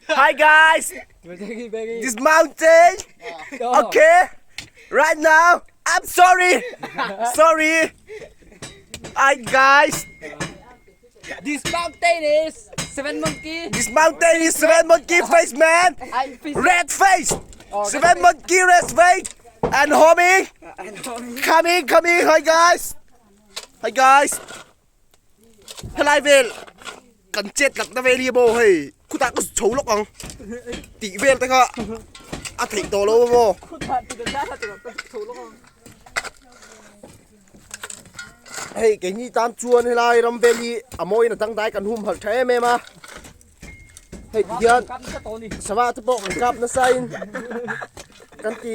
Hi guys! This mountain! Okay! Right now! I'm sorry! Sorry! Hi guys! This mountain is seven monkey! This mountain is seven monkey face man! Red face! Seven monkey red face! And homie! Coming! Coming! Hi guys! Hi guys! Helai vel kan chet lat na vel hi bo hei khuta ka chho lok ang ti vel te kha a thei to lo bo hei ke ni tan chuan helai ram vel hi amoi na tang dai kan hum hal thae me ma hei ti hian sawa te pawh kan kap na sain kan ti